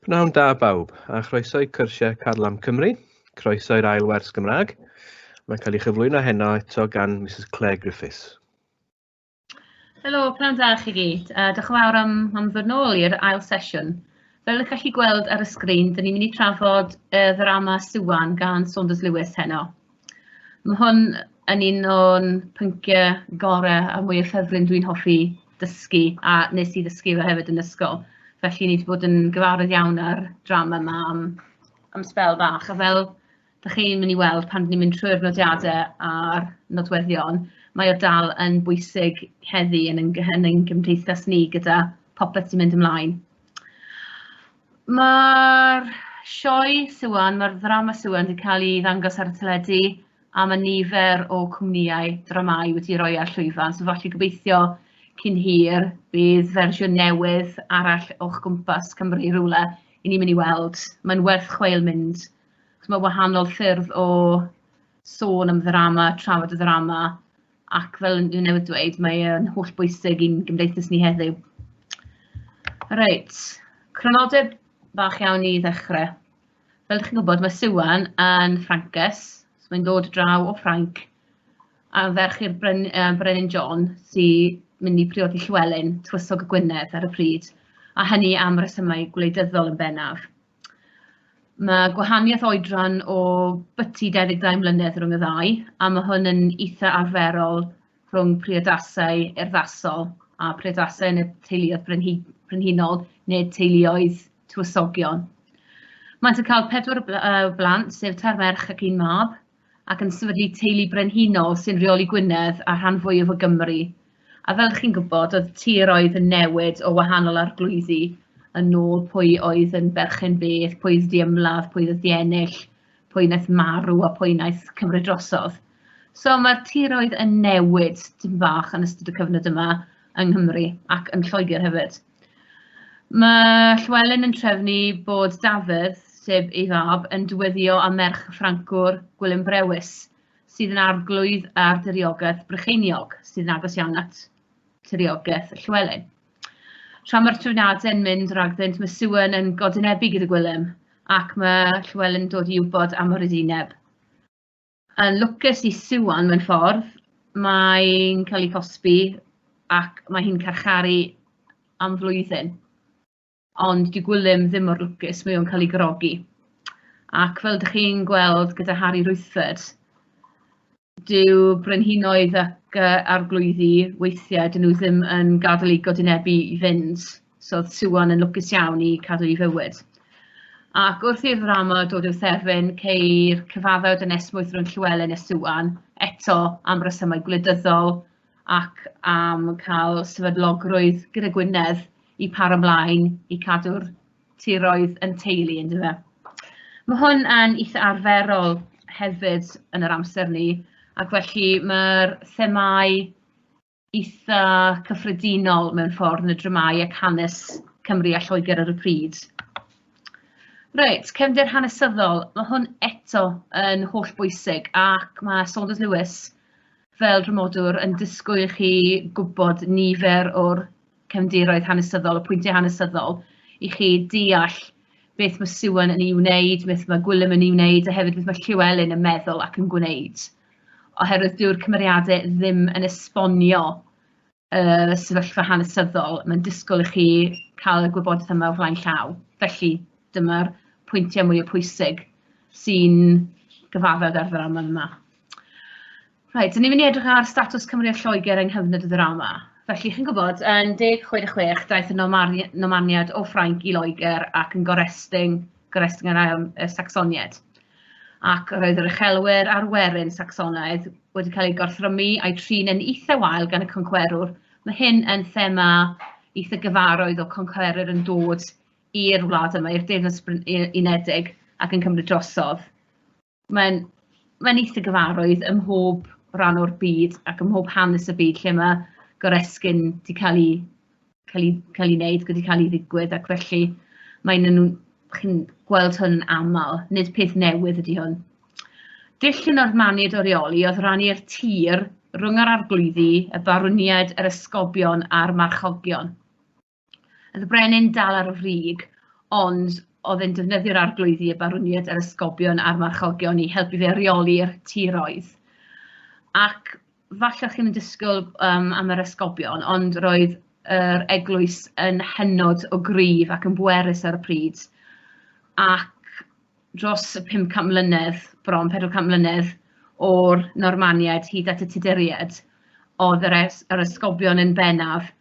Pnawn da bawb, a chroeso i cyrsiau Carlam Cymru, croeso i'r ail wers Gymraeg. Mae'n cael ei chyflwyno heno eto gan Mrs Claire Griffiths. Helo, pnawn da chi gyd, a diolch yn fawr am, am ddod nôl i'r ail sesiwn. Fel ydych chi gweld ar y sgrin, dyn ni'n mynd i trafod y ddrama Siwan gan Saunders Lewis heno. Ma' hwn yn un o'n pyncie gore a mwya ffefryn dwi'n hoffi dysgu a nes i ddysgu fe hefyd yn ysgol, felly ni 'di bod yn gyfarwydd iawn â'r drama 'ma am am sbel bach a fel 'dach chi'n myn' i weld pan ni'n mynd trwy'r nodiade a'r nodweddion mae o dal yn bwysig heddi yn ein gy- yn ein gymdeithas ni gyda popeth sy'n mynd ymlaen. Mae'r sioe Siwan, mae'r ddrama Siwan wedi cael ei ddangos ar y teledu a mae nifer o cwmnïau dramâu wedi roi ar llwyfan, so falle gobeithio cyn hir bydd fersiwn newydd arall o'ch gwmpas Cymru rhywle i ni'n mynd i weld. Mae'n werth chweil mynd, achos mae wahanol ffyrdd o sôn am ddrama, trafod y ddrama, ac fel o'n i newydd dweud mae e'n holl bwysig i'n gymdeithas ni heddiw. Reit, cronodeb bach iawn i ddechrau. Fel chi'n gwybod, mae Siwan yn Ffrancus, so mae'n dod draw o Ffranc, a ferch i'r Bren, uh, Brenin John sy'n mynd i priodi Llywelyn, Twysog y Gwynedd ar y pryd, a hynny am resymau gwleidyddol yn bennaf. Ma' gwahanieth oedran o byti dau ddeg dau mlynedd rhwng y ddau, a ma' hwn yn itha arferol rhwng priodasau urddasol a priodasau yn y teuluoedd brenhi- brenhinol neu teuluoedd tywysogion. Maent yn cael pedwar o bl- yy o blant, sef tair merch ac un mab. ac yn sefydlu teulu brenhinol sy'n rheoli Gwynedd a rhan fwyaf o Gymru. A fel chi'n gwybod, oedd tir oedd yn newid o wahanol arglwyddi yn ôl pwy oedd yn berchen beth, pwy oedd di ymladd, pwy oedd di ennill, pwy wnaeth marw a pwy wnaeth cymryd drosodd. So mae'r tiroedd yn newid dim bach yn ystod y cyfnod yma yng Nghymru ac yn Lloegr hefyd. Mae Llywelyn yn trefnu bod Dafydd, sef ei fab, yn diweddio â merch y Ffrancwr, Gwilym Brewis, sydd yn arglwydd ar diriogaeth Brycheiniog, sydd yn agos iawn at tiriogaeth Llywelyn. Tra mae'r trefniadau yn mynd ragddynt, mae Siwan yn godynebu gyda Gwilym, ac mae Llywelyn yn dod i wybod am yr edineb. Yn lwcus i Siwan mewn ffordd, mae'n cael ei cosbi ac mae hi'n carcharu am flwyddyn. Ond di Gwilym ddim mor lwcus, mae o'n cael ei grogi. Ac fel ydych chi'n gweld gyda Harry Rwythfed, dyw brenhinoedd ac uh, arglwyddi weithiau dyn nhw ddim yn gadael ei godinebu i fynd. So oedd Siwan yn lwcus iawn i cadw i fywyd. Ac wrth i'r ddrama dod i'w thefn, ceir cyfaddau o dynesmwyth rhwng Llywelyn a Siwan, eto am resymau gwleidyddol ac am cael sefydlogrwydd gyda Gwynedd i paro mlaen i cadw'r tiroedd yn teulu yn dyfa. Mae hwn yn eitha arferol hefyd yn yr amser ni, ac felly mae'r themau eitha cyffredinol mewn ffordd yn y dramâu ac hanes Cymru a Lloegr ar y pryd. Reit, cefndir hanesyddol, mae hwn eto yn holl bwysig ac mae Saunders Lewis fel drymodwr yn disgwyl i chi gwybod nifer o'r cefndiroedd hanesyddol, y pwyntiau hanesyddol, i chi deall beth mae Siwan yn ei wneud, beth mae Gwilym yn ei wneud, a hefyd beth mae Llewelyn yn meddwl ac yn gwneud. oherwydd dyw'r cymeriadau ddim yn esbonio y sefyllfa hanesyddol, mae'n disgwyl i chi cael y gwybodaeth yma o flaen llaw. Felly, dyma'r pwyntiau mwy o pwysig sy'n gyfaddawd ar ddrama yma. Rhaid, dyn ni'n mynd i edrych ar statws Cymru a Lloegr yng nghyfnod y ddrama. Felly, chi'n gwybod, yn 1066 daeth y nomaniad o Ffrainc i Loegr ac yn gorestyn Goresgyn yr ail y Sacsoniaid, ac roedd yr uchelwyr a'r werin Sacsonaidd wedi cael eu gorthrymu a'u trin yn eitha wael gan y concwerwr. Mae hyn yn thema eitha gyfaroedd o concwerwyr yn dod i'r wlad yma, i'r Deyrnas Unedig, ac yn cymryd drosodd. mae'n mae'n eitha gyfarwydd ym mhob rhan o'r byd ac ym mhob hanes y byd lle mae goresgyn 'di cael ei cael ei cael ei wneud, wedi cael ei ddigwydd ac felly mae'n nhw'n chi'n gweld hwn yn aml, nid peth newydd ydy hwn. Dull yn o'r maniad orioli oedd rannu'r tir rhwng yr arglwyddi, y barwniaid, yr esgobion a'r marchogion. Oedd y brenin dal ar y frig, ond oedd e'n defnyddio'r arglwyddi, y barwniaid a'r ysgobion a'r marchogion i helpu fe reoli'r tiroedd. Ac falle chi'n disgwyl um, am yr ysgobion, ond roedd yr eglwys yn hynod o gryf ac yn bwerus ar y pryd. Ac dros y 500 mlynedd, bron 400 mlynedd, o'r Normaniaid hyd at y Tuduriaid, oedd yr, es, yr ysgobion yn bennaf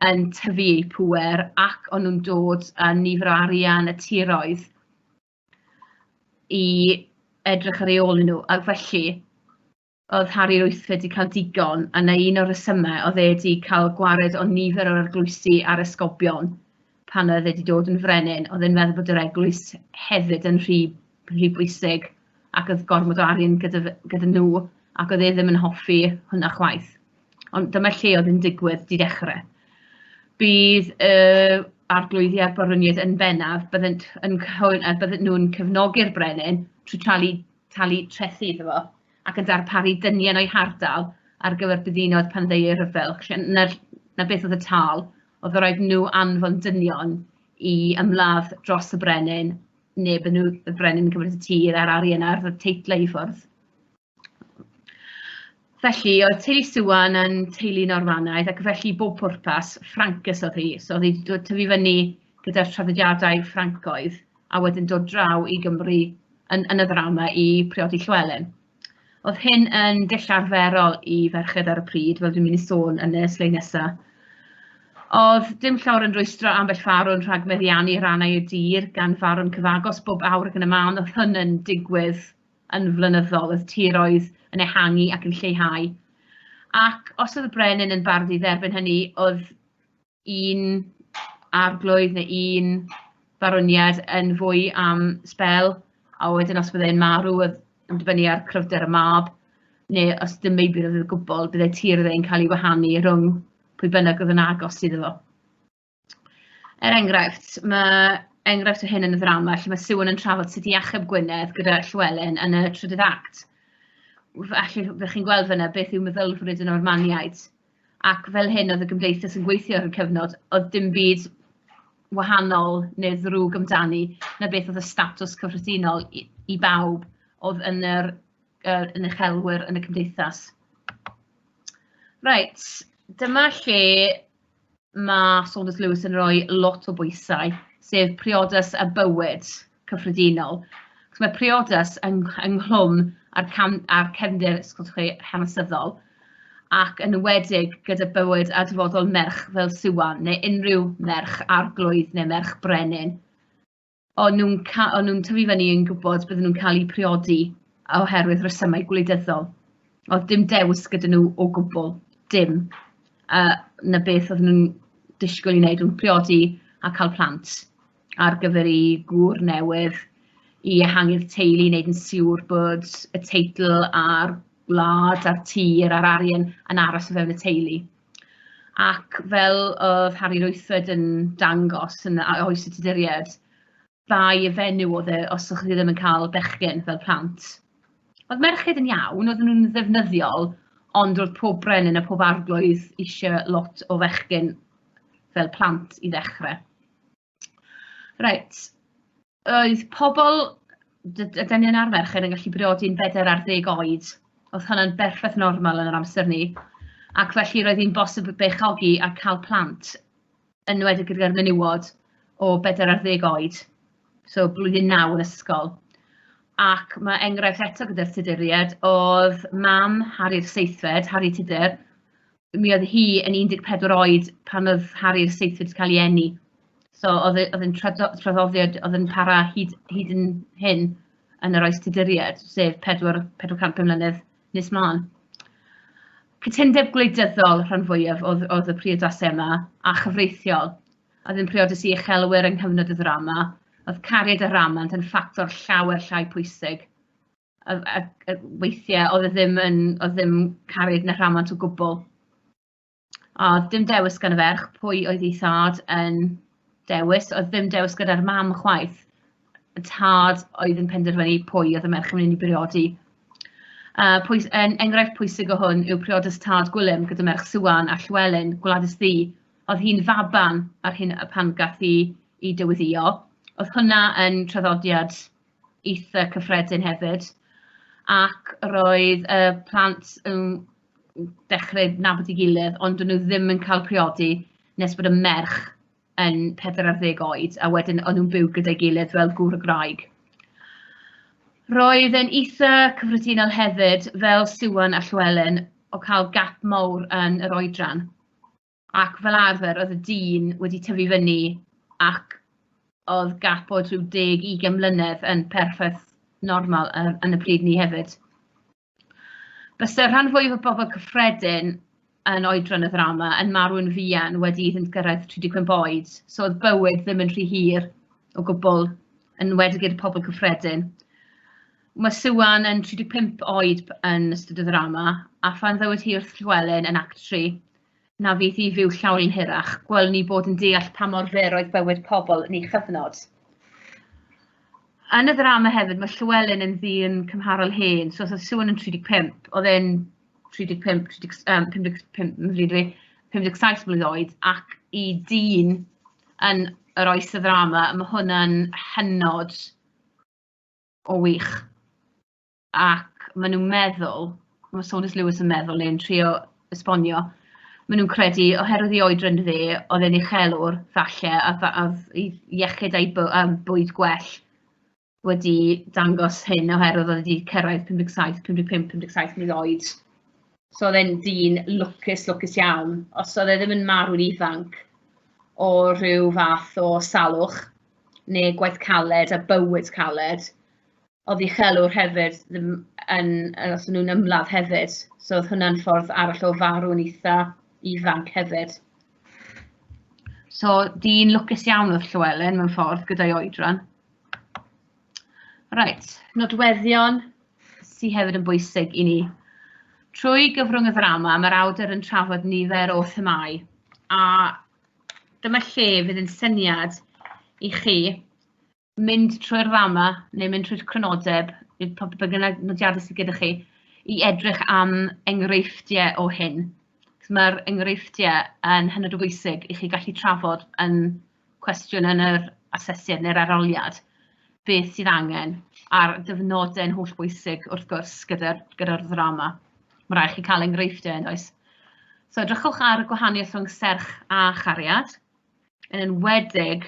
yn tyfu eu pŵer ac o'n nhw'n dod â nifer o arian y tiroedd i edrych ar ei ôl nhw. Ac felly, oedd Harry Ruth wedi cael digon, a na un o'r rhesymau oedd e wedi cael gwared o nifer o'r arglwysi a'r esgobion pan oedd e wedi dod yn frenin, oedd e'n meddwl bod yr eglwys hefyd yn rhy, rhy bwysig ac oedd gormod o arian gyda, gyda nhw ac oedd e ddim yn hoffi hwnna chwaith. Ond dyma lle oedd yn digwydd di dechrau. Bydd uh, arglwyddi a'r barwniaid yn bennaf, byddent yn cyhoen, a byddent nhw'n cefnogi'r brenin trwy talu, talu trethi iddo fo, ac yn darparu dynion o'i hardal ar gyfer byddinoedd pan ddeu ei rhyfel. Na, na beth oedd y tal, oedd yr rhaid nhw anfon dynion i ymladd dros y brenin, neu byd nhw, y brenin yn cymryd y tir a'r arian a'r teitlau i ffwrdd. Felly, oedd teulu Siwan yn teulu Normanaidd ac felly bob pwrpas Ffrancus oedd hi. So oedd hi wedi dod tyfu fyny gyda'r traddodiadau Ffrancoedd a wedyn dod draw i Gymru yn, yn y ddrama i priodi Llywelyn. Oedd hyn yn dull arferol i ferched ar y pryd, fel dwi'n mynd i sôn yn y sleid nesaf. Oedd dim llawer yn rwystro ambell farwn rhag meddiannu rannau y dir gan farwn cyfagos bob awr ac yn y man oedd hyn yn digwydd yn flynyddol, oedd tiroedd yn ehangu ac yn lleihau. Ac os oedd y brenin yn bardd i dderbyn hynny, oedd un arglwydd neu un barwniad yn fwy am sbel, a wedyn os byddai'n marw, oedd yn dibynnu ar cryfder y mab, neu os dim meibr oedd y gwbl, byddai tir ddeu'n cael ei wahanu rhwng pwy bynnag oedd yn agos iddo fo. Er enghraifft, mae enghraifft o hyn yn y ddrama lle mae Siwan yn trafod sut i achub Gwynedd gyda Llywelyn yn y trydydd act. Felly, fe chi'n gweld fyna beth yw meddylfryd y Normaniaid. Ac fel hyn oedd y gymdeithas yn gweithio ar y cyfnod, oedd dim byd wahanol neu ddrwg amdani na beth oedd y statws cyffredinol i, i bawb oedd yn yr uh, yn eich helwyr yn y cymdeithas. Reit, dyma lle mae Saunders Lewis yn rhoi lot o bwysau, sef priodas a bywyd cyffredinol. Cos mae priodas yn, ynghlwm a'r, cam, ar cefndir chi, hanesyddol, ac yn wedig gyda bywyd a dyfodol merch fel Siwan neu unrhyw merch arglwydd neu merch brenin. o'n nhw'n ca- o'n nhw'n tyfu fyny yn gwybod bydden nhw'n cael eu priodi oherwydd rhesymau gwleidyddol. Oedd dim dewis gyda nhw o gwbl, dim. A 'na beth oedden nhw'n disgwyl i wneud, o'n priodi a cael plant ar gyfer eu gŵr newydd, i ehangu'r teulu, wneud yn siŵr bod y teitl a'r gwlad a'r tir a'r arian yn aros o fewn y teulu. Ac fel oedd Harry Roethfed yn dangos yn oes y tuduriaid, bai y fenyw oedd e os o'ch chi ddim yn cael bechgyn fel plant. Oedd merched yn iawn, oedden nhw'n ddefnyddiol, ond roedd pob brenin a pob arglwydd eisiau lot o fechgyn fel plant i ddechrau. Reit, oedd pobl, ydy ni'n arfer chi yn gallu briodi'n bedair ar ddeg oed, oedd hynny'n berffaith normal yn yr amser ni, ac felly roedd hi'n bosib beichiogi a cael plant, yn wedi gyda'r menywod o bedair ar ddeg oed, so blwyddyn naw yn ysgol. Ac mae enghraifft eto gyda'r Tuduriaid oedd mam Harri'r Seithfed, Harri Tudur, mi oedd hi yn 14 oed pan oedd Harry'r seithfed wedi cael ei eni. So oedd e, oedd e'n traddodiad oedd yn para hyd, hyd yn hyn yn yr oes tuduriaid, sef 4, 400 mlynedd nes mlaen. Cytundeb gwleidyddol rhan fwyaf oedd, oedd y priodasau yma, a chyfreithiol. Oedd yn priodus i uchelwyr yng nghyfnod y ddrama, oedd cariad a rhamant yn ffactor llawer llai pwysig. a, a, a weithiau oedd e ddim yn, oedd e ddim caryd na rhamant o gwbl. A dim dewis gan y ferch pwy oedd ei thad yn dewis, oedd ddim dewis gyda'r mam chwaith. Y tad oedd yn penderfynu pwy oedd y merch yn mynd i briodi. Uh, pwys, en, enghraifft pwysig o hwn yw priodas tad Gwilym gyda merch Siwan a Llywelyn, Gwladys Ddi. Oedd hi'n faban ar hyn pan gath i, i dywyddio. Oedd hwnna yn traddodiad eitha' cyffredin hefyd, ac roedd y plant yn dechrau nabod ei gilydd, ond do'n nhw ddim yn cael priodi nes bod y merch yn pedwar ar ddeg oed, a wedyn o'n nhw'n byw gyda'i gilydd fel gŵr a gwraig. Roedd e'n eitha' cyffredinol hefyd, fel Siwan a Llewelyn, o cael gap mawr yn yr oedran. ac fel arfer oedd y dyn wedi tyfu fyny ac oedd gap bod rhyw deg i gemlynedd yn perffaith normal yn, yn y pryd ni hefyd. Byse rhan fwyaf o bobl cyffredin yn oedran y ddrama yn marw'n fuan wedi iddynt gyrraedd 35 oed, so oedd bywyd ddim yn rhy hir o gwbl, yn wedig i'r pobl cyffredin. Mae Siwan yn 35 oed yn ystod y ddrama, a phan ddywed hi wrth Llywelyn yn Act 3 na fydd hi fyw llawn yn hirach, gwelwn ni bod yn deall pa mor fer oedd bywyd pobl yn ei chyfnod. Yn y ddrama hefyd, mae Llywelyn yn ddyn cymharol hen, so oedd Siwan yn 35, oedd e'n 35, 30, um, 55, 57 mlynedd oed, ac i dyn yn yr oes y ddrama, mae hwnna'n hynod O wych. Ac maen nhw'n meddwl, mae Saunders Lewis yn meddwl neu'n trio esbonio, maen nhw'n credu oherwydd ei oedran fe, oedd e'n uchelwr falle a fa- a oedd ei iechyd a'i by- yym, bwyd gwell wedi dangos hyn oherwydd oedd e wedi cyrraedd 57, 55, 57 mlwydd oed. So oedd e'n dyn lwcus, lwcus iawn. Os oedd e ddim yn marw'n ifanc o rhyw fath o salwch, neu gwaith caled a bywyd caled, oedd uchelwr hefyd ddim yn yy os o'n nhw'n ymladd hefyd, so oedd hwnna'n ffordd arall o farw'n eitha ifanc hefyd. So, dyn lwcus iawn oedd Llywelyn mewn ffordd gyda'i oedran. Reit, nodweddion sydd hefyd yn bwysig i ni. Trwy gyfrwng y ddrama, mae'r awdur yn trafod nifer o themau, a Dyma lle fydd yn syniad i chi mynd trwy'r ddama neu mynd trwy'r crynodeb, pa bynnag nodiadau sydd gyda chi, i edrych am enghreifftiau o hyn. Mae'r enghreifftiau yn hynod o bwysig i chi gallu trafod yn cwestiwn yn yr asesiad neu'r aroliad beth sydd angen a'r dyfnodau'n holl bwysig wrth gwrs gyda'r gyda ddrama. Mae'n rhaid i chi cael enghreifftiau, yn oes? So edrychwch ar y gwahaniaeth rhwng serch a chariad, yn enwedig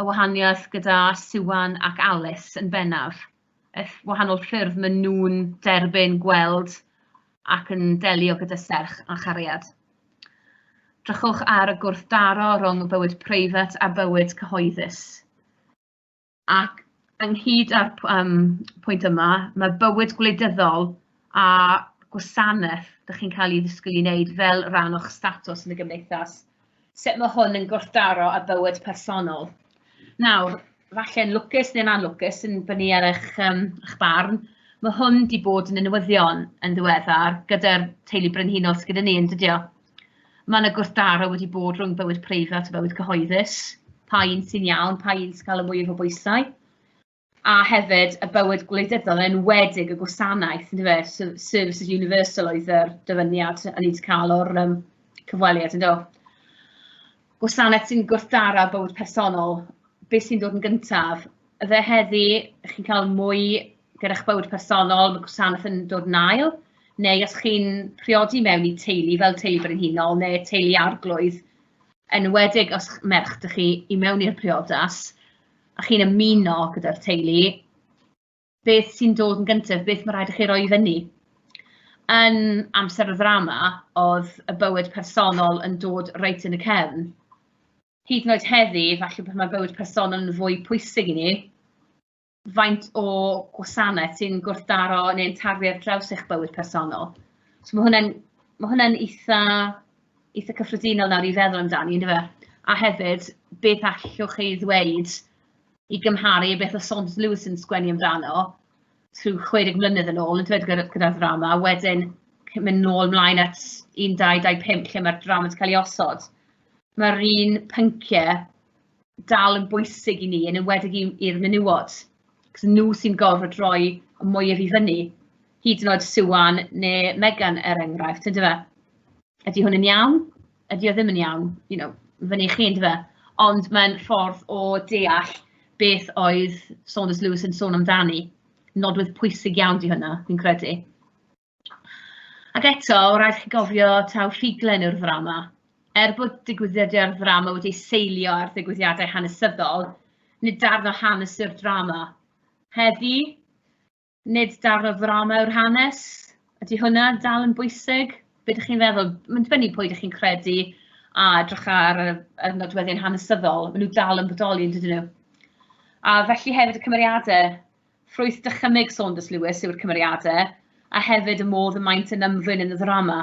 y wahaniaeth gyda Siwan ac Alice yn bennaf, y wahanol ffyrdd maen nhw'n derbyn, gweld ac yn delio gyda serch a chariad. Drychwch ar y gwrthdaro rhwng y bywyd preifat a bywyd cyhoeddus. Ac ynghyd â'r p- yym pwynt yma, ma' bywyd gwleidyddol a gwasanaeth 'dach chi'n cael ei ddysgu i wneud fel rhan o'ch statws yn y gymdeithas, sut ma' hwn yn gwrthdaro â bywyd personol. Nawr, falle'n lwcus neu'n anlwcus, yn dibynnu ar eich yym eich barn, ma' hwn 'di bod yn y newyddion yn ddiweddar gyda'r teulu brenhinol sy gyda ni, yn dydi o? Mae yna gwrthdaro wedi bod rhwng bywyd preifat a bywyd cyhoeddus, pa un sy'n iawn, pa un sy'n cael y mwyaf o bwysau, a hefyd y bywyd gwleidyddol, yn enwedig y gwasanaeth, yn dweud, services universal oedd yr dyfyniad yn ni'n cael o'r um, cyfweliad, yn dweud. Gwasanaeth sy'n gwrthdaro bywyd personol, beth sy'n dod yn gyntaf, Fe heddi, chi'n cael mwy gyda'ch bywyd personol, mae gwasanaeth yn dod yn ail, neu os chi'n priodi mewn i teulu fel teulu brenhinol neu teulu arglwydd, yn enwedig os merch dych chi i mewn i'r priodas a chi'n ymuno gyda'r teulu, beth sy'n dod yn gyntaf, beth mae'n rhaid i chi roi i fyny? Yn amser y ddrama, oedd y bywyd personol yn dod reit yn y cefn. hyd yn oed heddi, falle pan mae bywyd personol yn fwy pwysig i ni, faint o gwasanaeth sy'n gwrthdaro neu'n tarfu ar draws eich bywyd personol. So mae hwnna'n ma hwnna eitha, eitha cyffredinol nawr i feddwl amdani, ynddo fe? A hefyd, beth allwch chi ddweud i gymharu i beth o Saunders Lewis yn sgwennu amdano, trwy 60 mlynedd yn ôl, yn dweud gyda'r gyda ddrama, a wedyn mynd nôl mlaen at 1225 lle mae'r drama wedi cael ei osod. mae'r un pynciau dal yn bwysig i ni, yn enwedig i- i'r menywod, achos nhw sy'n gorfod rhoi y mwyaf i fyny, hyd yn oed Siwan neu Megan, er enghraifft, yn dyfe? Ydy hwn yn iawn? Ydy o ddim yn iawn? You know, fyny i chi, yn dyfe? Ond mae'n ffordd o deall beth oedd Saunders Lewis yn sôn amdani. Nodwedd pwysig iawn di hwnna, fi'n credu. Ac eto, o raid chi gofio taw rhuglen yw'r ddrama. Er bod digwyddiadau'r ddrama wedi seilio ar ddigwyddiadau hanesyddol, nid darn o hanes yw'r drama. Heddi, nid darn o ddrama yw'r hanes. Ydy hwnna dal yn bwysig? Be ydych chi'n feddwl? Mae'n dibynnu pwy ydych chi'n credu a edrych ar y, y nodweddion hanesyddol. Maen nhw dal yn bodoli, yn dydyn nhw? A felly hefyd y cymeriadau Ffrwyth dychymyg Saunders Lewis yw'r cymeriadau, a hefyd y modd y maent yn ymddwyn yn y ddrama.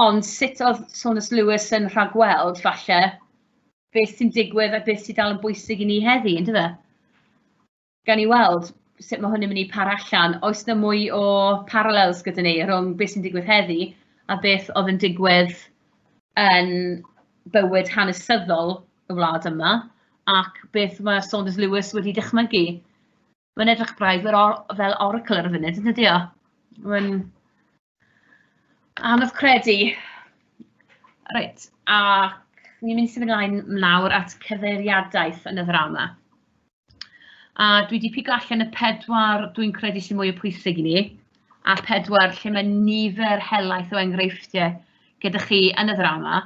Ond sut oedd Saunders Lewis yn rhagweld, falle, beth sy'n digwydd a beth sy'n dal yn bwysig i ni heddi, ynddo fe? Gan i weld sut mae hwn yn mynd i par allan, oes yna mwy o parallels gyda ni rhwng beth sy'n digwydd heddi a beth oedd yn digwydd yn bywyd hanesyddol y wlad yma, ac beth mae Saunders Lewis wedi dychmygu. Mae'n edrych braidd fel or- fel oracle ar y funud, yn dydi o? Mae'n anodd credu. Reit, ac ni'n mynd i symud ymlaen nawr at cyfeiriadaeth yn y ddrama. A dwi wedi pigo allan y pedwar dwi'n credu sy'n mwy o pwysig i ni, a pedwar lle mae nifer helaeth o enghreifftiau gyda chi yn y ddrama.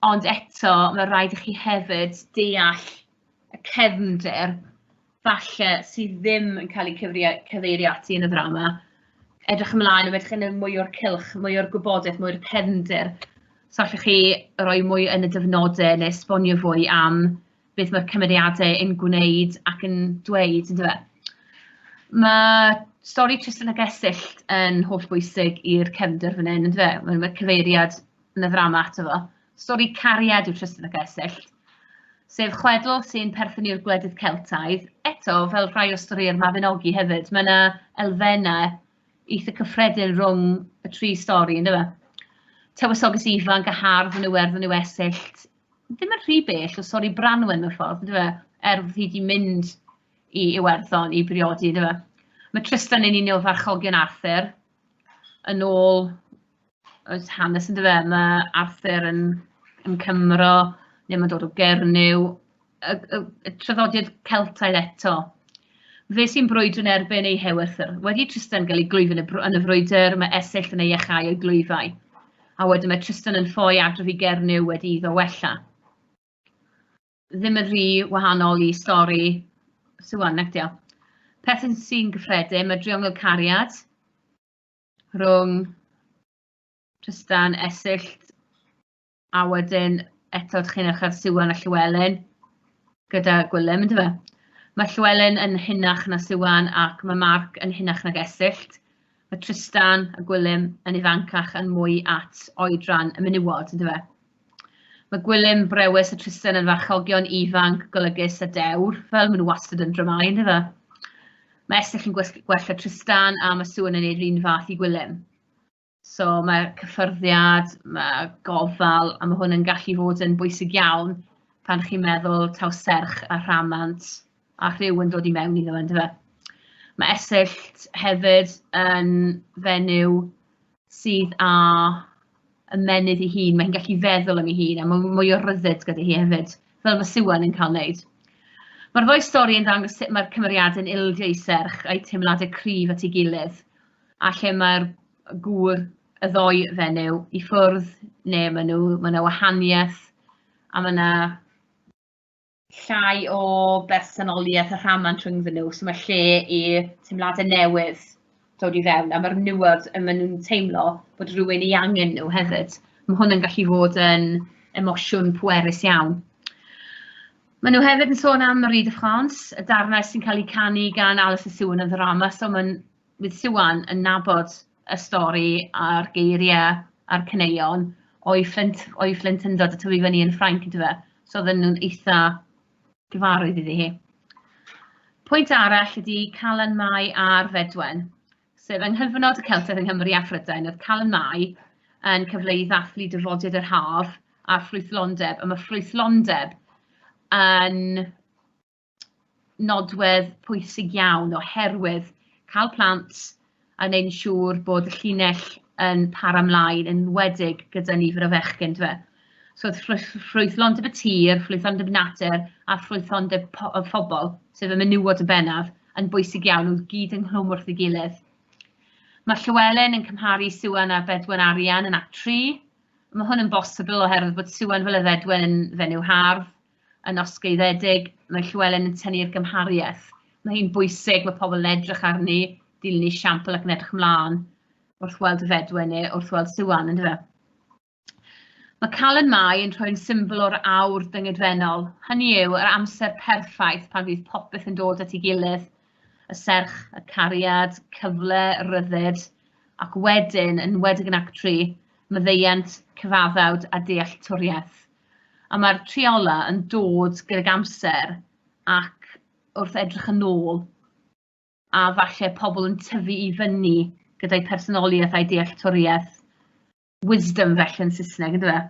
Ond eto, mae'n rhaid i chi hefyd deall y cefnder falle sydd ddim yn cael eu cyfeirio ati yn y ddrama. Edrych ymlaen, mae'n edrych yn mwy o'r cylch, mwy o'r gwybodaeth, mwy o'r cefnder. So allwch chi roi mwy yn y dyfnodau neu esbonio fwy am beth mae'r cymeriadau yn gwneud ac yn dweud, yn dweud. Mae stori Tristan a Gesyll yn holl bwysig i'r cefnder fan hyn, yn dweud. Mae, mae cyfeiriad yn y ddrama ato fo. Stori cariad yw Tristan a Gesyll, sef chwedl sy'n perthyn i'r gwledydd Celtaidd. Eto, fel rhai o stori'r Mabinogi hefyd, mae yna elfennau eitha cyffredin rhwng y tri stori, ynddo fe? Tywysoges ifanc a hardd yn Iwerddon yw Esyllt, ddim yn rhy bell o sori Branwen mewn ffordd, yndyfe? Er bod hi wedi mynd i Iwerddon i briodi, yndyfe? Mae Tristan yn un o farchogion Arthur. Yn ôl oes hanes, yndyfe? Mae Arthur yn, yn Cymro, neu mae'n dod o Gernyw, y, y, y traddodiad Celtaidd eto. Fe sy'n brwydro'n erbyn ei hewythr. Wedi Tristan gael ei glwyf yn y, yn y frwydr, mae Esyll yn ei achau o'i glwyfau. A wedyn mae Tristan yn ffoi adrof i Gernyw wedi iddo wella. Ddim yn rhy wahanol i stori Swan, nag diolch. Peth sy'n gyffredin, mae driongl cariad rhwng Tristan, Esyll A wedyn eto dach chi'n edrych ar Siwan a Llewelyn gyda Gwilym yndyfe? Mae Llewelyn yn hunach na Siwan ac mae Mark yn hunach nag Esyllt. Mae Tristan a Gwilym yn ifancach yn mwy at oedran y menywod yndyfe? Mae Gwilym brewys a Tristan yn farchogion ifanc, golygus a dewr, fel maen nhw wastad yn dramau yndyfe? Mae Esyllt yn gwella Tristan a mae Siwan yn ei un fath i Gwilym. So mae cyffyrddiad, mae gofal, a mae hwn yn gallu fod yn bwysig iawn pan chi'n meddwl taw serch a rhamant a rhyw yn dod i mewn iddo fe, yndyfe? Mae esyllt hefyd yn fenyw sydd â ymenydd ei hun, mae hi'n gallu feddwl am ei hun a mae mwy o ryddid gyda hi hefyd, fel mae Siwan yn cael wneud. Mae'r ddwy stori yn dangos sut mae'r cymeriadau'n ildio i serch a'i teimladau cryf at ei gilydd, a lle mae'r gŵr y ddoi fenyw i ffwrdd neu maen nhw, mae yna wahaniaeth a mae yna llai o bersonoliaeth a rhamant rhyngddyn nhw, so mae lle i teimladau newydd dod i fewn a mae'r newid y maen nhw'n teimlo bod rhywun i angen nhw hefyd. Mae hwn yn gallu fod yn emosiwn pwerus iawn. Maen nhw hefyd yn sôn am Marie de France, y darnau sy'n cael eu canu gan Alice y Siwn yn ddrama, so mae'n bydd Siwan yn nabod y stori a'r geiriau a'r caneuon o'i fflint, o'i fflint yn dod y tyfu fyny yn Ffrainc yn dyfa. So oedden nhw'n eitha gyfarwydd iddi hi. Pwynt arall ydy Calan Mai a'r Fedwen, sef yng nghyfnod y Celtedd yng Nghymru a Phrydain, oedd Calan Mai yn cyfle i ddathlu dyfodiad yr haf a'r ffrwythlondeb, a mae ffrwythlondeb yn nodwedd pwysig iawn oherwydd cael plant a wneud yn siŵr bod y llinell yn para ymlaen yn wedig gyda nifer o fechgyn dyfe. So ffrwythlondeb y tir, ffrwythlondeb natur a ffrwythlondeb y phobl, sef y menywod yn bennaf, yn bwysig iawn, nhw gyd ynghlwm wrth ei gilydd. Mae Llywelyn yn cymharu Siwan a Bedwen Arian yn act 3. Mae hwn yn bosibl oherwydd bod Siwan fel y Fedwen yn fenyw hardd, yn osgeiddedig, mae Llywelyn yn tynnu i'r gymhariaeth. Mae hi'n bwysig, mae pobl yn edrych arni, dilyn ei siampl ac yn edrych ymlaen wrth weld y fedwe neu wrth weld Siwan, yn dyfa. Mae Calen Mai yn rhoi'n symbol o'r awr dyngedfennol, hynny yw yr amser perffaith pan fydd popeth yn dod at ei gilydd, y serch, y cariad, cyfle, ryddid, ac wedyn, yn wedig yn Act 3, myddeiant, cyfaddawd a dealltwriaeth. A mae'r triola yn dod gydag amser ac wrth edrych yn ôl, a falle pobl yn tyfu i fyny gyda'i personoliaeth a'i dealltwriaeth wisdom felly yn Saesneg, ynddo fe?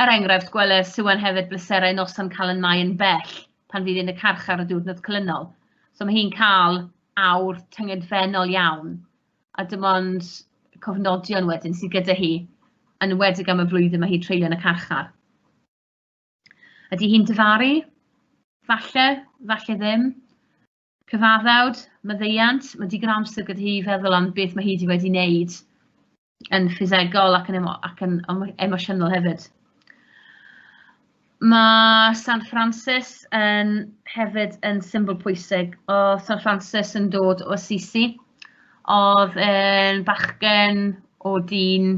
Er enghraifft, gweler Siwan hefyd bleserau noson cael yn mae yn bell pan fydd yn y carchar y diwrnod colynol. So mae hi'n cael awr tyngedfennol iawn a dim ond cofnodion wedyn sydd gyda hi, yn enwedig am y flwyddyn mae hi'n treulio yn y carchar. Ydy hi'n dyfaru? Falle, falle ddim. Cyfaddawd, maddeiant, mae digon amser gyda hi i feddwl am beth mae hi wedi wedi wneud yn ffisegol ac yn, emo ac yn emosiynol hefyd. Mae San Francis yn hefyd yn symbol pwysig. O San Francis yn dod o Assisi. Oedd yn bachgen o dyn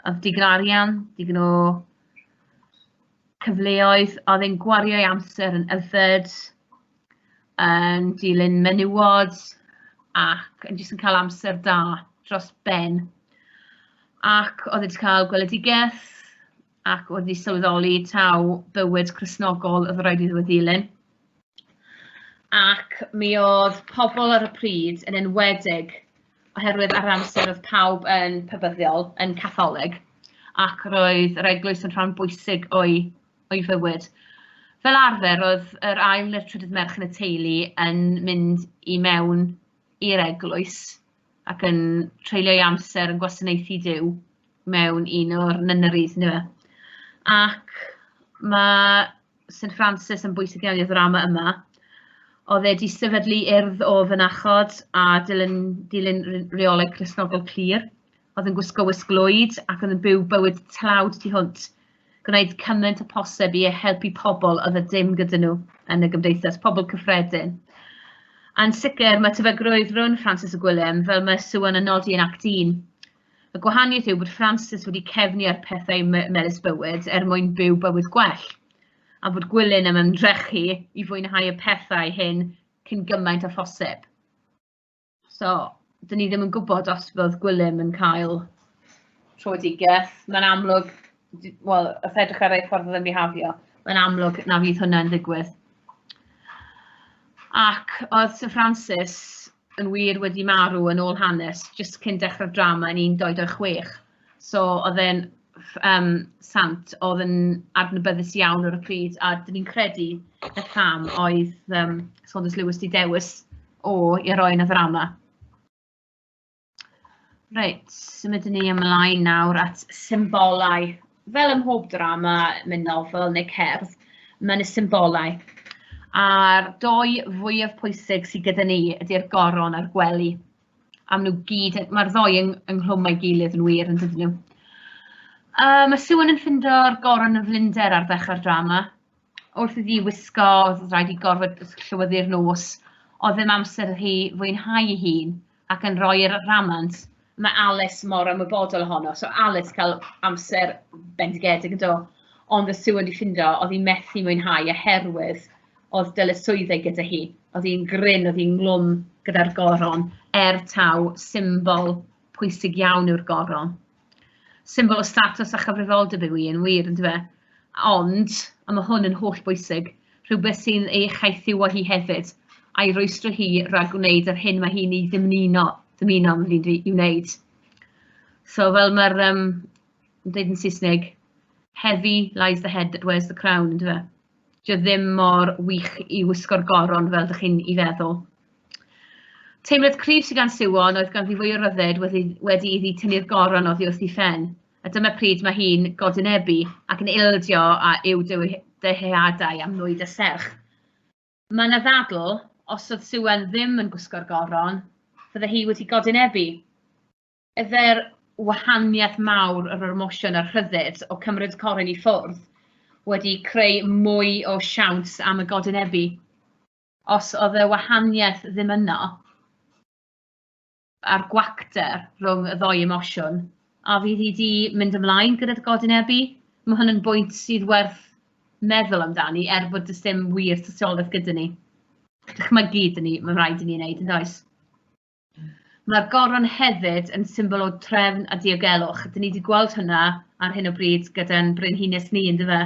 oedd digon arian, digon o cyfleoedd. Oedd yn gwario ei amser yn yfed, yn dilyn menywod ac yn jyst yn cael amser da dros ben. Ac oedd wedi cael gweledigaeth ac oedd wedi sylweddoli taw bywyd Cresnogol oedd rhaid iddo ddilyn. Ac mi oedd pobl ar y pryd yn enwedig oherwydd ar amser oedd pawb yn pybyddiol, yn catholig, ac roedd yr eglwys yn rhan bwysig o'i, o'i fywyd. Fel arfer, oedd yr ail neu'r trydydd merch yn y teulu yn mynd i mewn i'r eglwys ac yn treulio ei amser yn gwasanaethu Duw mewn un o'r nunneries yndyfe. Ac mae St Francis yn bwysig iawn i'r ddrama yma. Oedd e wedi sefydlu urdd o fynachod a dilyn dilyn reolau Cristnogol clir, oedd yn gwisgo wisg lwyd ac oedd yn byw bywyd tlawd tu hwnt gwneud cymaint â phosib i helpu pobl oedd y dim gyda nhw yn y gymdeithas, pobl cyffredin. A'n sicr, mae tebygrwydd rhwng Francis a Gwilym, fel mae Siwan yn nodi yn Act 1. Y gwahaniaeth yw bod Francis wedi cefnu ar pethau melys bywyd er mwyn byw bywyd gwell, a bod Gwilym yn ymdrechu i fwynhau y pethau hyn cyn gymaint â phosib. So, dyn ni ddim yn gwybod os fod Gwilym yn cael trwydigeth. Mae'n amlwg, wel, os edrych ar ei ffordd o ddim bihafio, mae'n amlwg na fydd hwnna'n ddigwydd. Ac oedd Sir Francis yn wir wedi marw yn ôl hanes, jyst cyn dechrau'r drama yn 16. So oedd e'n yym sant oedd yn adnabyddus iawn ar y pryd, a 'dyn ni'n credu y cam oedd yym Saunders Lewis 'di dewis o i roi yn y ddrama. Reit, symudwn ni ymlaen nawr at symbolau. Fel ym mhob drama, mewn nofel neu cerdd, mae yna symbolau. A'r dou fwyaf pwysig sydd gyda ni ydy'r goron a'r gwely. am nhw gyd, mae'r ddoi yng, ynghlwm a'i gilydd yn wir yn dydyn nhw. Um, mae Siwan yn ffindo'r goron yn flinder ar ddechrau'r drama. Wrth iddi wisgo, oedd rhaid i gorfod llywyddu'r nos, oedd ddim amser hi fwynhau ei hun ac yn rhoi'r ramant mae Alice mor ymwybodol ohono. So Alice cael amser bendigedig yn do. Ond y siw wedi ffindo, oedd hi methu mwynhau oherwydd oedd dyletswyddau gyda hi, oedd hi'n grin, oedd hi'n nghlwm gyda'r goron, er taw symbol pwysig iawn yw'r goron. Symbol o status a chyfrifoldeb yw hi yn wir, ynddo fe? Ond, a mae hwn yn holl bwysig, rhywbeth sy'n ei chaethiwo hi hefyd, a'i rwystro hi rhag gwneud yr hyn mae hi'n ei ddymuno, ddymuno am hyn i'w wneud. So, fel mae'r, um, yn dweud yn Saesneg, heavy lies the head that wears the crown, ynddo fe? Dio ddim mor wych i wisgo'r goron fel dych chi'n i feddwl. Teimlad cryf sydd gan Siwon oedd ganddi fwy o ryddid wedi, wedi iddi tynnu'r goron oddi wrth ei phen, a dyma pryd mae hi'n godynebu ac yn ildio a yw dyheadau am nwyd a serch. Mae yna ddadl, os oedd Siwan ddim yn gwisgo'r goron, fydde hi wedi godynebu. Is there wahaniaeth mawr yr emosiwn a'r rhyddid o cymryd coryn i ffwrdd wedi creu mwy o siawns am y godinebu? Os oedd y wahaniaeth ddim yno, a'r gwacter rhwng y ddoi emosiwn, a fydd hi di mynd ymlaen gyda'r godinebu? Mae hwn yn bwynt sydd werth meddwl amdani, er bod dys dim wir tystiolaeth gyda ni. Dychmygu dyn ni, mae'n rhaid i ni wneud yn does? Mae'r goron hefyd yn symbol o drefn a diogelwch. Dyn ni wedi gweld hynna ar hyn o bryd gyda'n brenhines ni, ynddo fe?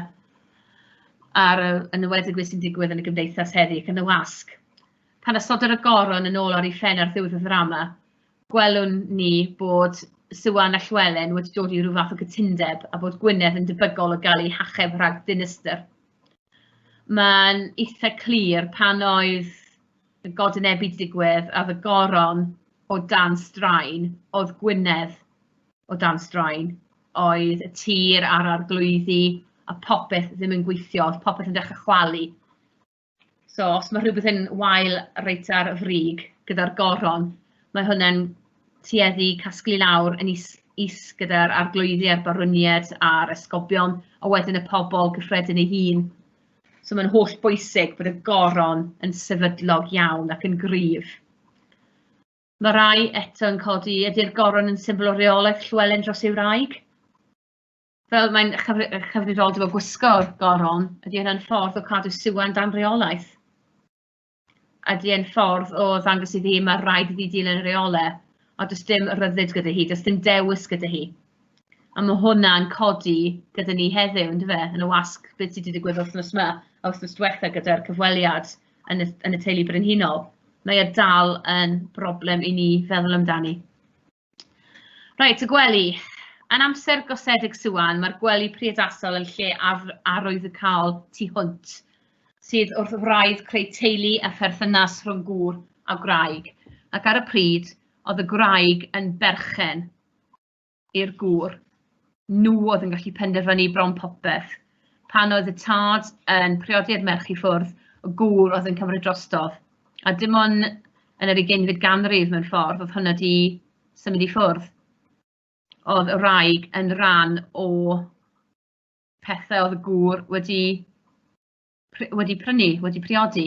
Ar y, yn ywedig beth sy'n digwydd yn y gymdeithas heddi ac yn y wasg. Pan asododd y goron yn ôl ar ei phen ar ddiwedd y ddrama, gwelwn ni bod Siwan a Llywelyn wedi dod i rhyw fath o gytundeb a bod Gwynedd yn debygol o gael ei hacheb rhag dinistr. Mae'n eitha clir pan oedd y godynebyd 'di digwydd a o'dd y goron o dan straen, o'dd Gwynedd o dan straen, oedd y tir a'r arglwyddi a popeth ddim yn gweithio, o'dd popeth yn dechre chwalu. So os ma' rhywbeth yn wael reit ar y frig gyda'r goron, mae hwnna'n tueddu casglu lawr yn is is gyda'r arglwyddi a'r barwnied a'r esgobion, a wedyn y pobol gyffredin ei hun. So mae'n holl bwysig bod y goron yn sefydlog iawn ac yn gryf. Mae rai eto yn codi, ydy'r goron yn symbol o reolaeth Llywelyn dros ei wraig? Fel mae'n chyfrifoldeb o gwisgo'r goron, ydy hynna'n ffordd o cadw Siwan dan reolaeth? Ydy e'n ffordd o ddangos iddi hi ma' raid iddi dilyn y reolau, ond does dim rhyddid gyda hi, does dim dewis gyda hi. A ma' hwnna'n codi gyda ni heddiw yndyw e, yn y wasg beth sy' 'di digwydd wythnos 'ma a wythnos diwetha' gyda'r cyfweliad yn y yn y teulu brenhinol, mae e dal yn broblem i ni feddwl amdani. Reit, y gwely. Yn amser gosedig Siwan, mae'r gwely priodasol yn lle ar arwyddocaol tu hwnt, sydd wrth wraidd creu teulu a pherthynas rhwng gŵr a gwraig, ac ar y pryd oedd y gwraig yn berchen i'r gŵr nhw oedd yn gallu penderfynu bron popeth. Pan oedd y tad yn priodi'r merch i ffwrdd, y gŵr oedd yn cymryd drostodd. A dim ond yn yr ugeinfyd ganrif mewn ffordd oedd hwnna di symud i ffwrdd. Oedd y wraig yn rhan o pethau oedd y gŵr wedi wedi prynu, wedi priodi.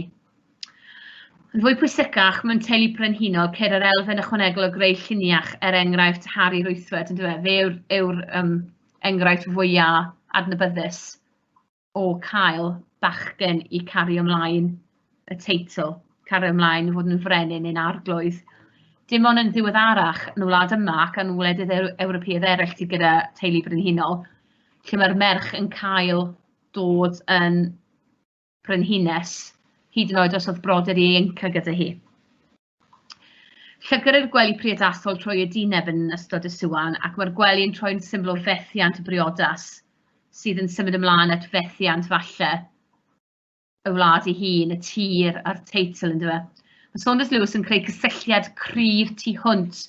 Yn fwy pwysicach, mae'n teulu brenhinol ceir yr elfen ychwanegol o greu lluniach er enghraifft Harry Rwythwed, yn dweud, fe yw'r yw um, enghraifft fwyaf adnabyddus o cael bachgen i cario ymlaen y teitl, cario ymlaen i fod yn frenin yn arglwydd. Dim ond yn ddiweddarach yn y wlad yma ac yn wledydd Ewropeaidd eraill sydd gyda teulu brenhinol, lle mae'r merch yn cael dod yn frenhines, hyd yn oed os oedd brodyr ieuenctid gyda hi. Llygr i'r gwely priodasol trwy y dineb yn ystod y siwan ac mae'r gwely yn troi'n symbol o fethiant y briodas, sydd yn symud ymlaen at fethiant falle. y wlad ei hun, y tir a'r teitl yn dweud. Mae Saunders Lewis yn creu cysylltiad cryf tu hwnt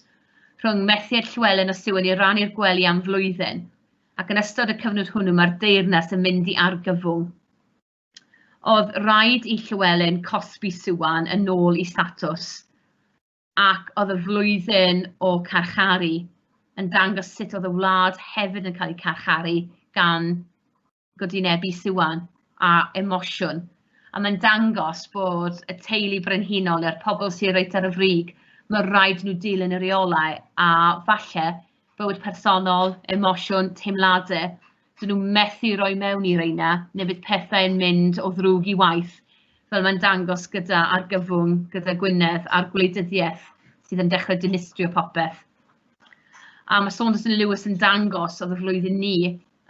rhwng methiad Llywelyn a Siwan i rannu'r gwely am flwyddyn, ac yn ystod y cyfnod hwnnw mae'r deyrnas yn mynd i argyfwng. Oedd rhaid i Llywelyn cosbi Siwan yn ôl i statws, ac oedd y flwyddyn o carcharu yn dangos sut oedd y wlad hefyd yn cael ei carcharu gan godwynebu siwan a emosiwn. A mae'n dangos bod y teulu brenhinol neu'r pobl sy'n reit ar y frig, mae'n rhaid nhw dilyn y reolau a falle bywyd personol, emosiwn, teimladau, dyn nhw methu roi mewn i reina, neu bydd pethau'n mynd o ddrwg i waith, fel mae'n dangos gyda argyfwng, gyda Gwynedd a'r gwleidyddiaeth sydd yn dechrau dinistrio popeth. A mae Saunders and Lewis yn dangos oedd y flwyddyn ni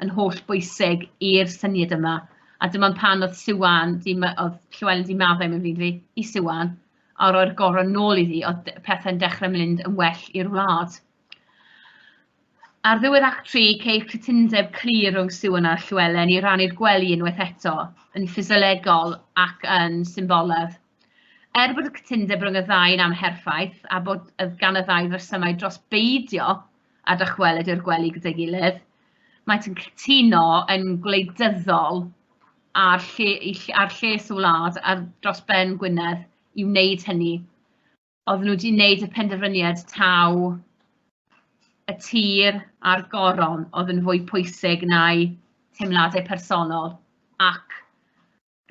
yn holl bwysig i'r syniad yma, a dyma pan oedd Siwan, oedd Llewellyn wedi maddau mewn fi, i Siwan, a roi'r gorau nôl iddi, oedd pethau'n dechrau mynd yn well i'r wlad. Ar ddiwedd Act 3, ceir cytundeb clir rhwng Siwan a Llewellyn i rannu'r gwely unwaith eto, yn ffisiolegol ac yn symboledd. Er bod y cytundeb rhwng y ddau yn amherffaith a bod gan y ddau resymau dros beidio a dychwelyd i'r gwely gyda'i gilydd, maent yn cytuno yn gwleidyddol â'r lle- eu ll- â'r lles y wlad ar dros ben Gwynedd i wneud hynny. Oedden nhw 'di wneud y penderfyniad taw y tir a'r goron oedd yn fwy pwysig na'u teimladau personol ac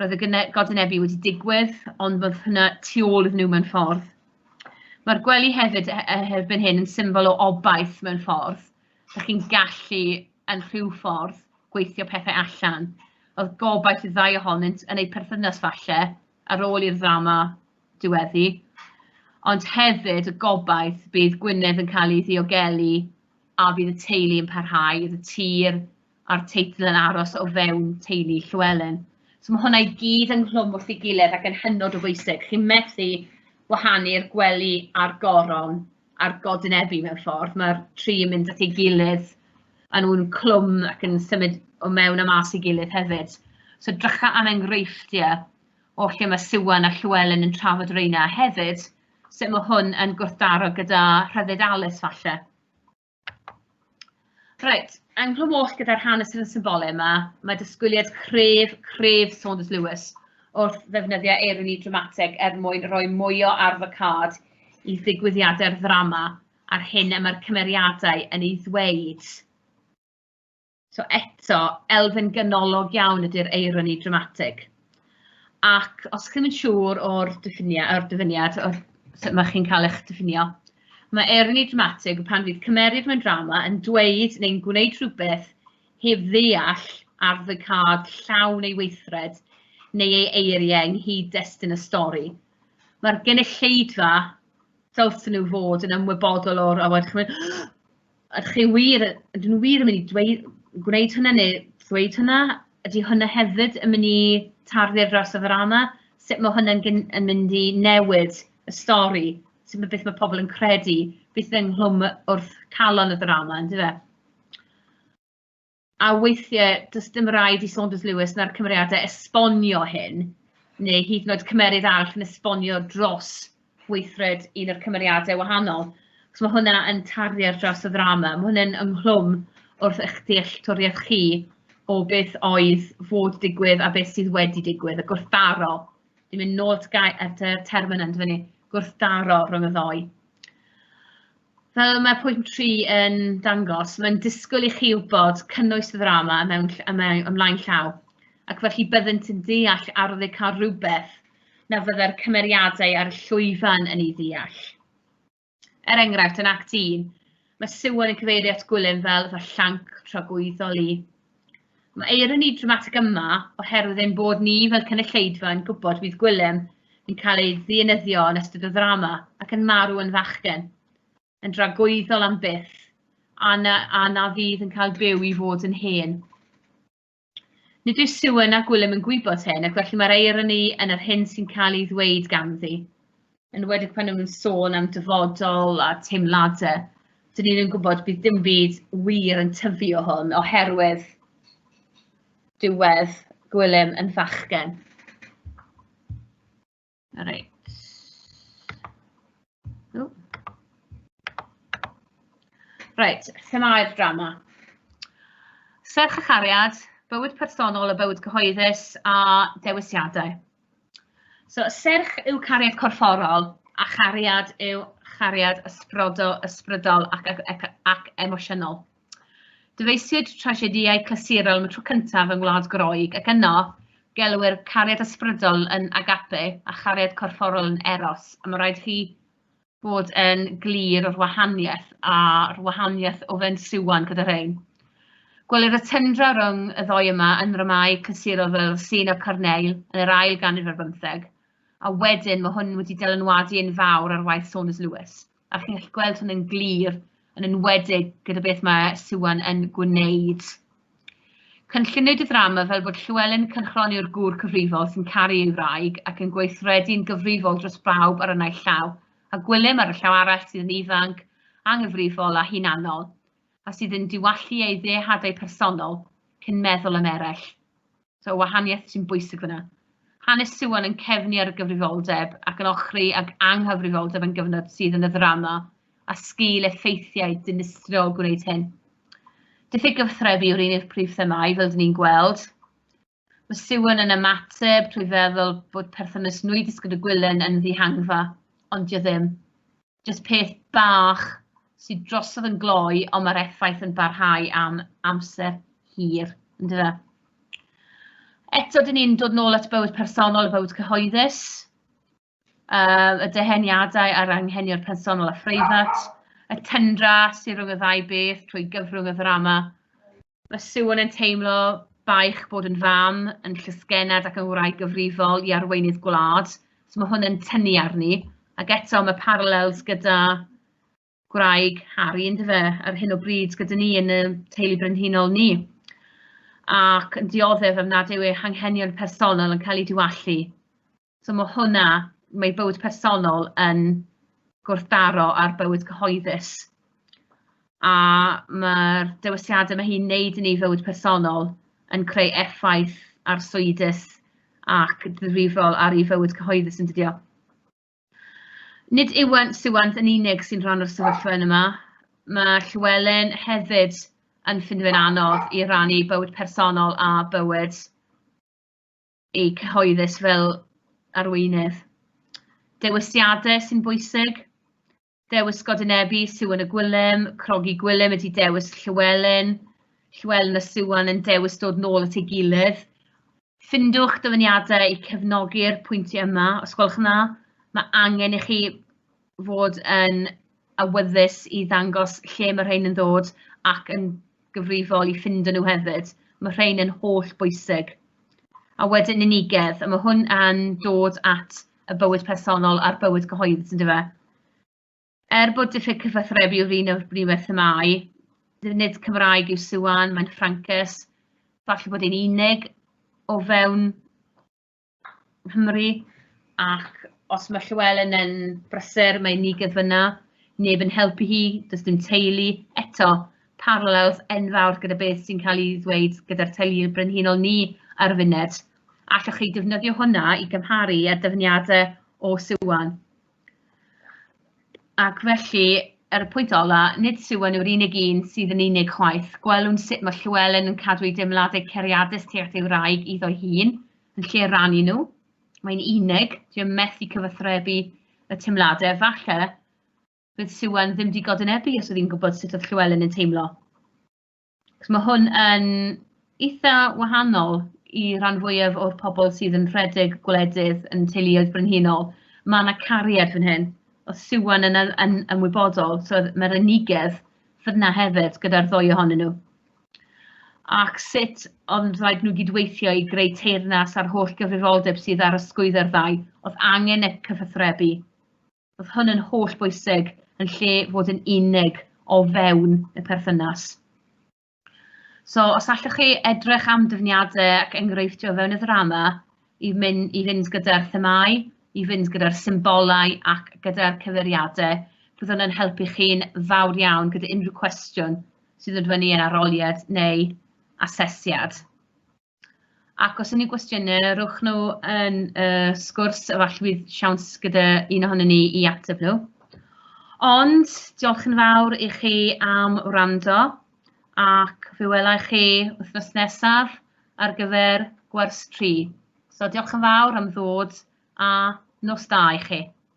Roedd y godinebu wedi digwydd, ond roedd hynna tu ôl iddyn nhw mewn ffordd. Mae'r gwely hefyd e, e, erbyn hyn yn symbol o obaith mewn ffordd. Ydych chi'n gallu yn rhyw ffordd gweithio pethau allan. Oedd gobaith y ddau ohonynt yn eu perthynas falle ar ôl i'r ddrama diweddu, ond hefyd y gobaith bydd Gwynedd yn cael ei ddiogelu a bydd y teulu yn parhau, bydd y tir a'r teitl yn aros o fewn teulu Llywelyn. So mae hwnna i gyd yn nghlwm wrth ei gilydd ac yn hynod o bwysig. Chi'n methu wahanu'r gwely a'r goron a'r godynebu mewn ffordd. Mae'r tri yn mynd at ei gilydd a nhw'n clwm ac yn symud o mewn a mas i gilydd hefyd. So drycha am enghreifftiau o lle mae Siwan a Llywelyn yn trafod reina hefyd, sut mae hwn yn gwrthdaro gyda rhyddid Alice falle. Reit, yng Nghlwm Oll gyda'r hanes sydd yn symbolau yma, mae dysgwyliad cref, cref Saunders Lewis wrth ddefnyddiau eironi dramatig er mwyn rhoi mwy o arf y card i ddigwyddiadau'r ddrama a'r hyn y mae'r cymeriadau yn ei ddweud. So eto, elfen ganolog iawn ydy'r eironi dramatig. Ac os chi'n mynd siŵr o'r diffiniad, o'r dyfyniad, o'r sut mae chi'n cael eich diffinio, mae eironi dramatig pan fydd cymeriad mewn drama yn dweud neu'n gwneud rhywbeth heb ddeall ar ddygcad llawn ei weithred neu ei eiriau ynghyd destun y stori. Mae'r gynulleidfa dylsyn nhw fod yn ymwybodol o'r awod chymryd Ydych chi wir, ydyn nhw wir yn mynd i dweud, gwneud hynna neu ddweud hynna? Ydy hynna hefyd yn mynd i tarddu ar draws y ddrama? Sut mae hynna'n gyn- yn mynd i newid y stori? Sut mae beth mae pobl yn credu? Beth ynghlwm wrth calon y ddrama, yndyfe? a weithiau does dim rhaid i Saunders Lewis na'r cymeriadau esbonio hyn, neu hyd yn oed cymeryd arall yn esbonio dros weithred un o'r cymeriadau wahanol, achos mae hwnna yn tarfu ar draws y ddrama, mae hwnna'n ynghlwm wrth eich dealltwriaeth chi o beth oedd fod digwydd a beth sydd wedi digwydd, y gwrthdaro, dwi'n mynd nôl at y term yna, yn dyfynnu, gwrthdaro rhwng y ddou. Fel mae pwynt tri yn dangos, mae'n disgwyl i chi wybod cynnwys y ddrama y mewn ll- y mewn ymlaen llaw, ac felly byddent yn deall arni cael rhywbeth na fyddai'r cymeriadau ar y llwyfan yn ei ddeall. Er enghraifft, yn Act 1, Mae Siwan yn cyfeirio at Gwilym fel fy llanc tragwyddol i. Mae eironi dramatig yma oherwydd ein bod ni fel cynulleidfa yn gwybod bydd Gwilym yn cael ei ddienyddio yn ystod y ddrama ac yn marw yn fachgen, yn dragwyddol am byth, a na, a na fydd yn cael byw i fod yn hen. Nid yw Siwan a Gwilym yn gwybod hyn, ac felly mae'r eironi yn yr hyn sy'n cael ei ddweud ganddi. Yn wedig pan nhw'n sôn am dyfodol a teimladau, dyn ni'n yn gwybod bydd dim byd wir yn tyfu o hwn, oherwydd diwedd Gwilym yn fachgen. Reit. Ww. Reit, themau'r drama. Serch a chariad, bywyd personol a bywyd cyhoeddus a dewisiadau. So, serch yw cariad corfforol a chariad yw chariad ysbrodo, ysbrydol ac, ac, ac emosiynol. Dyfeisiwyd trasiedïau clasurol am y tro cyntaf yng Ngwlad Groeg, ac yno, gelwir cariad ysbrydol yn agape a chariad corfforol yn eros, a mae rhaid chi bod yn glir o'r wahaniaeth a'r wahaniaeth o fewn Siwan gyda rhain. Gwelir y tyndra rhwng y ddoi yma yn ddramâu clasurol fel Scene of Corneille yn yr ail ganrif ar bymtheg, a wedyn mae hwn wedi dylanwadu yn fawr ar waith Saunders Lewis. A chi'n gallu gweld hynny'n glir, yn enwedig gyda beth mae Siwan yn gwneud. Cynlluniwyd y ddrama fel bod Llywelyn Cynchron yw'r gŵr cyfrifol sy'n caru ei wraig ac yn gweithredu'n gyfrifol dros bawb ar y naill llaw, a Gwilym ar y llaw arall sydd yn ifanc, anghyfrifol a hunanol, a sydd yn diwallu ei ddeihadau personol cyn meddwl am eraill. So, wahaniaeth sy'n bwysig fyna. Hanes Siwan yn cefnu ar y gyfrifoldeb ac yn ochri ag anghyfrifoldeb yn gyfnod sydd yn y ddrama a sgil effeithiau dinistrio o gwneud hyn. Diffyg gyfathrebu yw'r un i'r prif themau, fel dyn ni'n gweld. Mae Siwan yn ymateb trwy feddwl bod perthynas nwy disgyd y gwylen yn ddihangfa, ond dio ddim. Jyst peth bach sydd drosodd yn gloi, ond mae'r effaith yn barhau am amser hir, yn dyfa. Eto, dyn ni'n dod nôl at bywyd personol a bywyd cyhoeddus, uh, y deheniadau a'r anghenion personol a phreifat, y tyndra sy'n rhwng y ddau beth trwy gyfrwng y ddrama, Mae Siôn yn teimlo baich bod yn fam, yn llysgennad ac yn wraig gyfrifol i arweinydd gwlad, so ma' hwn yn tynnu arni, ac eto ma' parallels gyda gwraig Harri yndyfe, ar hyn o bryd gyda ni yn y teulu brenhinol ni, ac yn dioddef am nad yw ei hanghenion personol yn cael eu diwallu. So mae hwnna, mae bywyd personol yn gwrthdaro ar bywyd cyhoeddus. A mae'r dewisiadau mae hi'n neud yn ei fywyd personol yn creu effaith ar swydus ac ddifrifol ar ei fywyd cyhoeddus yn dydio. Nid Iwan Siwant yn unig sy'n rhan o'r sefyllfa yn yma. Mae Llywelyn hefyd yn ffindio fe'n anodd i rannu bywyd personol a bywyd eu cyhoeddus fel arweinydd. Dewisiadau sy'n bwysig, dewis Godinebi, Siwan y Gwilym, Crogi Gwilym ydy dewis Llywelyn, Llywelyn a Siwan yn dewis dod nôl at ei gilydd. Ffindwch dyfyniadau i cefnogi'r pwyntiau yma, os gwelwch yn dda. Mae angen i chi fod yn awyddus i ddangos lle mae rhain yn ddod ac yn gyfrifol i ffindo nhw hefyd, ma' rhein yn holl bwysig. A wedyn unigedd, a ma' hwn yn dod at y bywyd personol a'r bywyd cyhoeddus yndyw e? Er bod diffyg cyfathrebu yw'r un o'r brif themâu, nid Cymraeg yw Siwan, mae'n Ffrancus, falle bod e'n unig o fewn Nghymru, ac os mae Llywelyn yn brysur, mae'n nigydd fyna, neb yn helpu hi, does dim teulu, eto, parallels enfawr gyda beth sy'n cael ei ddweud gyda'r teuluoedd brenhinol ni ar y funud. Allwch chi defnyddio hwnna i gymharu â dyfyniadau o Siwan? Ac felly, ar y pwynt ola, nid Siwan yw'r unig un sydd yn unig chwaith. Gwelwn sut mae Llywelyn yn cadw ei deimladau cariadus tuag at ei wraig iddo'i hun, yn lle rannu nhw. Mae'n unig, dwi am methu cyfathrebu y teimladau, falle bydd Siwan ddim wedi godwynebu os oedd hi'n gwybod sut oedd Llywelyn yn teimlo. Achos mae hwn yn eitha wahanol i ran fwyaf o'r pobl sydd yn rhedeg gwledydd yn teuluoedd brenhinol. Mae yna cariad fan hyn. Oedd Siwan yn, yn, yn ymwybodol, so mae'r unigedd fyna hefyd gyda'r ddwy ohonyn nhw. Ac sut ond rhaid nhw gydweithio i greu teyrnas a'r holl gyfrifoldeb sydd ar ysgwydd ar ddau, oedd angen y cyfathrebu. Oedd hwn yn holl bwysig yn lle fod yn unig o fewn y perthynas. So, os allwch chi edrych am dyfniadau ac enghreifftiau fewn y ddrama i mynd, i fynd gyda'r themau, i fynd gyda'r symbolau ac gyda'r cyfeiriadau, byddwn yn helpu chi'n fawr iawn gyda unrhyw cwestiwn sydd yn fyny yn aroliad neu asesiad. Ac os unrhyw gwestiynau, rhowch nhw yn y sgwrs, efallai bydd siawns gyda un ohonyn ni i ateb nhw. Ond diolch yn fawr i chi am wrando ac fe wela i chi wythnos nesaf ar gyfer gwers 3. So diolch yn fawr am ddod a nos da i chi.